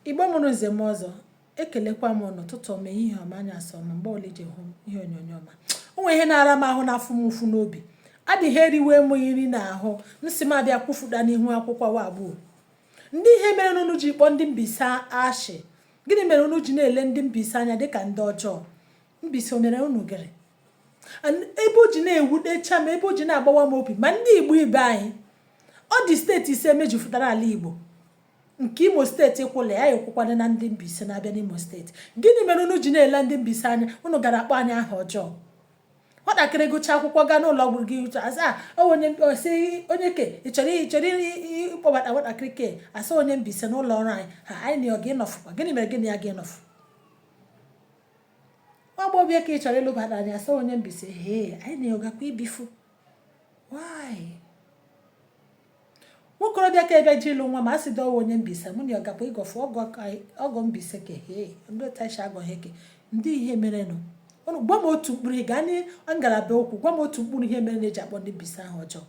Igbo mụrụ nze mụọ ọzọ ekelekwa m unu ụtụtụ ọma ehihie ọma anyasị ọma mgbe ọla iji hụ ihe onyonyo ọma o nwere ihe na-ara m ahụ na-afụ m ụfụ n'obi adịghị eriwe m nri n'ahụ m sị m bịa kwufuda n'ihu akwụkwọ wa gbuo ndị ihe merenụ unu ji kpọọ ndị Mbaise ashị gịnị mere unu ji na-ele ndị Mbaise anya dịka ndị ọjọọ Mbaise o mere unu gịrị ebe o ji na-ewutecha m ebe o ji na-agbawa m obi ma ndị Igbo ibe anyị ọ dị steeti ise mejupụtara ala Igbo nke Imo steeti kwụla ya ekwụkwana na ndị Mbaise na-abịa n'Imo steeti gịnị mere unu ji na-ele ndị Mbaise anya unu gara akpọ anyị aha ọjọọ nwatakịrị gụcha akwụkwọ gaa n'ụlọ ọgwụ gị uche asa onye osi onye ke ị chọrọ ị chọrọ ịkpọbata nwatakịrị ke asa onye Mbaise n'ụlọ ọrụ anyị ha anyị na ọ gị nọfụkwa gịnị mere gị na ya gị nọfụ nwa agbọghọbịa ke ị chọrọ ịlụbada anyị a sị onye Mbaise hee anyị na ya agakwa ibifu why nwokorobịa ka ebe ji ịlụ nwa m a sị ọ wụ onye Mbaise mụ na ya agakwa ịgọfụ ọgọ Mbaise ke hee ndị otachi agọghị ke ndị ihe merenụ ụnụ gwa m otu mkpụrụ ị gaa na ngalaba okwu gwa m otu mkpụrụ ihe mere e ji akpọ ndị Mbaise aha ọjọọ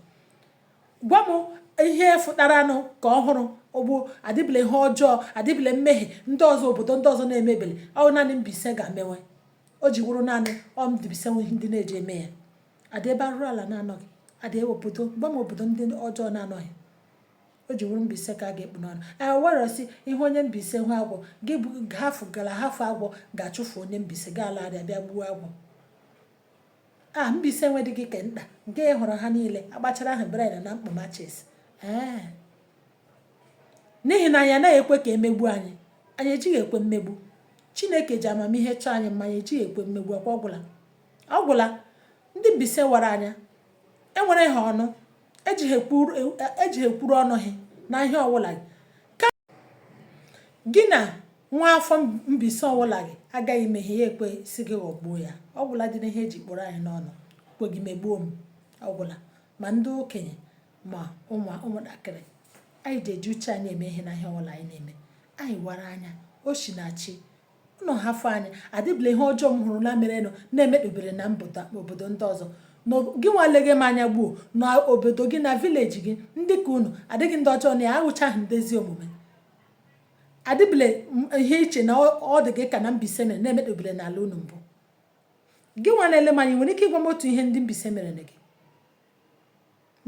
Gwa m ihe fụtaranụ ke ọhụrụ gbuo adịbele ihe ọjọọ adịbele mmehie ndị ọzọ obodo ndị ọzọ na-emebele ọ wụ naanị Mbaise ga-emewe o ji wụrụ naanị ọ Mbaise nwe ihe ndị na-eji eme ya adị ebe arụrụ ala na-anọghị adị obodo gwa m obodo ndị ọjọọ na-anọghị o ji wụrụ Mbaise ka a ga-akpụ n'ọnụ ee were sị ị hụ onye Mbaise hụ agwọ gị bụ hafụ gara hafụ agwọ gaa chụfụ onye Mbaise ga-ala abịa bịa gbuo agwọ Ah, Mbaise enwedịghị ke nta nke ị hụrụ ha niile agbachara ahụ bred na mkpụ machis ee n'ihi na anyị anaghị ekwe ka e megbu anyị anyị ejighị ekwe mmegbu chineke ji amamihe chọọ anyị mma anyị ejighị ekwe mmegbu ọ kwa ọ gwụla ọ gwụla ndị Mbaise wara anya e nwere ha ọnụ ejighị ekwuru ọnụ ha na ihe ọwụla gị ka gị na nwa afọ Mbaise ọwụla gị agaghị ime ihe ya ekwe sị gị ghọgbuo ya ọ gwụla dị n'ihe e ji kpụrụ anyị n'ọnụ kwe gị megbuo m ọ gwụla ma ndị okenye ma ụmụntakịrị anyị ji eji uche anyị eme ihe na ihe ọwụla anyị na-eme anyị wara anya o shi na chi Ụnụ hafụ anyị, adịbụla ihe ọjọọ m hụrụ na merenụ na-emetubere na obodo ndị ọzọ. Gị nwa leghe m anya gbuo na obodo gị na vileji gị ndị ka ụnụ adịghị ndị ọjọọ na ya awụchaghị ndị ezi omume. Adịbụla ihe i che na ọ dị gị ka na Mbaise mere na-emetubere n'ala unu mbụ. Gị nwa na-ele m anya nwere ike ịgwa m otu ihe ndị Mbaise mere gị?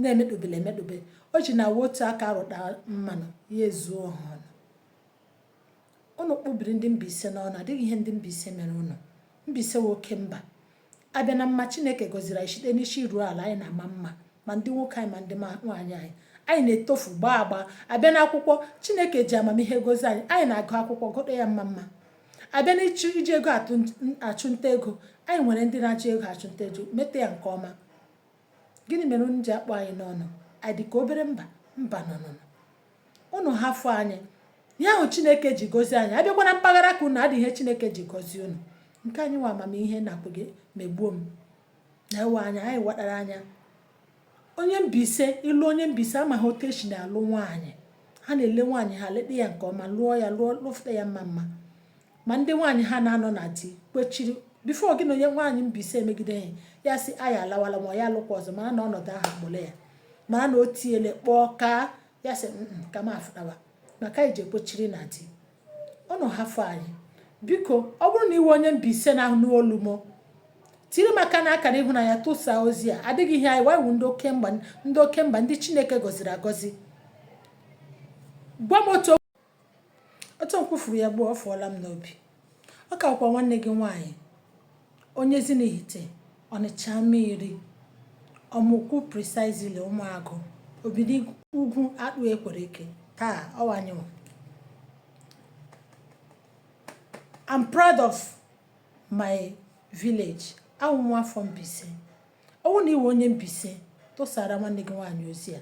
na-emekpobele emekpobe o ji na-awụ otu aka rụta mmanụ ya ezuo ọha ọnụ ụnụ kpụbiri ndị Mbaise n'ọnụ ọ dịghị ihe ndị Mbaise mere ụnụ Mbaise wụ oke mba a bịa na mma Chineke gọziri anyị site n'isi ruo ala anyị na-ama mma ma ndị nwoke anyị ma ndị nwaanyị anyị anyị na-etofu gbaa agba a bịa na akwụkwọ Chineke ji amamihe gozi anyị anyị na-agụ akwụkwọ gụta ya mma mma a bịa na iji ego achụnta ego anyị nwere ndị na-achụ ego achụnta ego meta ya nke ọma gịnị mere unu ji akpụ anyị n'ọnụ anyị dị ka obere mba mba no no unu hafụ anyị ihe ahụ chineke ji gozie anyị a bịakwa na mpaghara nke unu ọ dị ihe chineke ji gozie unu nke anyị wụ amamihe na-akpụ gị megbuo m na ịwa anya anyị wadara anya onye Mbaise ịlụ onye Mbaise amaghị otu esi na-alụ nwaanyị ha na-ele nwaanyị ha leta ya nke ọma lụọ ya lụọ lụfụta ya mma mma ma ndị nwaanyị ha na-anọ na di kwechiri before gị na onye nwaanyị Mbaise emegide ha ya sị anyị alawala ma ya alụkwa ọzọ mara na ọnọdụ ahụ akpọrọ ya mara na o tiele kpọọ ka ya sị ka m afụtawa maka anyị ji ekwechiri na di unu hafụ anyị biko ọ bụrụ na ị wụ onye Mbaise na-anụ olu m tiri m aka na akara ịhụnanya tụsaa ozi a ọ dị ihe anyị wụ anyị wụ ndị oke mba ndị oke mba ndị Chineke gọziri agọzi gwa m otu Otu m kwufuru ya ugbu a, ọ fụọla m n'obi. Ọ ka bụkwa nwanne gị nwaanyị onye Ezinihite Ọnịcha Amairi Ọmụkwu precisely Ụmụagụ obidi ugwu akpụ ekwere eke taa ọ wụ anyịnwa. I'm proud of my village. Awụ m nwa afọ Mbaise. ọ wụrụ na ị wụ onye Mbaise tụsara nwanne gị nwaanyị ozi a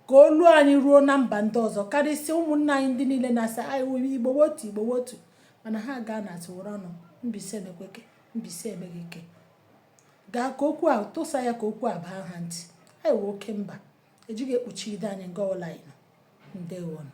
ka olu anyị ruo na mba ndị ọzọ karịsịa ụmụnna anyị ndị niile na-asị anyị Igbo wụ otu Igbo wụ otu mana ha gaa na atụwụrụ ọnụ Mbaise emekweke Mbaise emeghị ike gaa ka okwu a tụsa ya ka okwu a baa ha ntị anyị wụ oke mba e jighị ekpuchide anyị nga ọla anyị nọ ndewonụ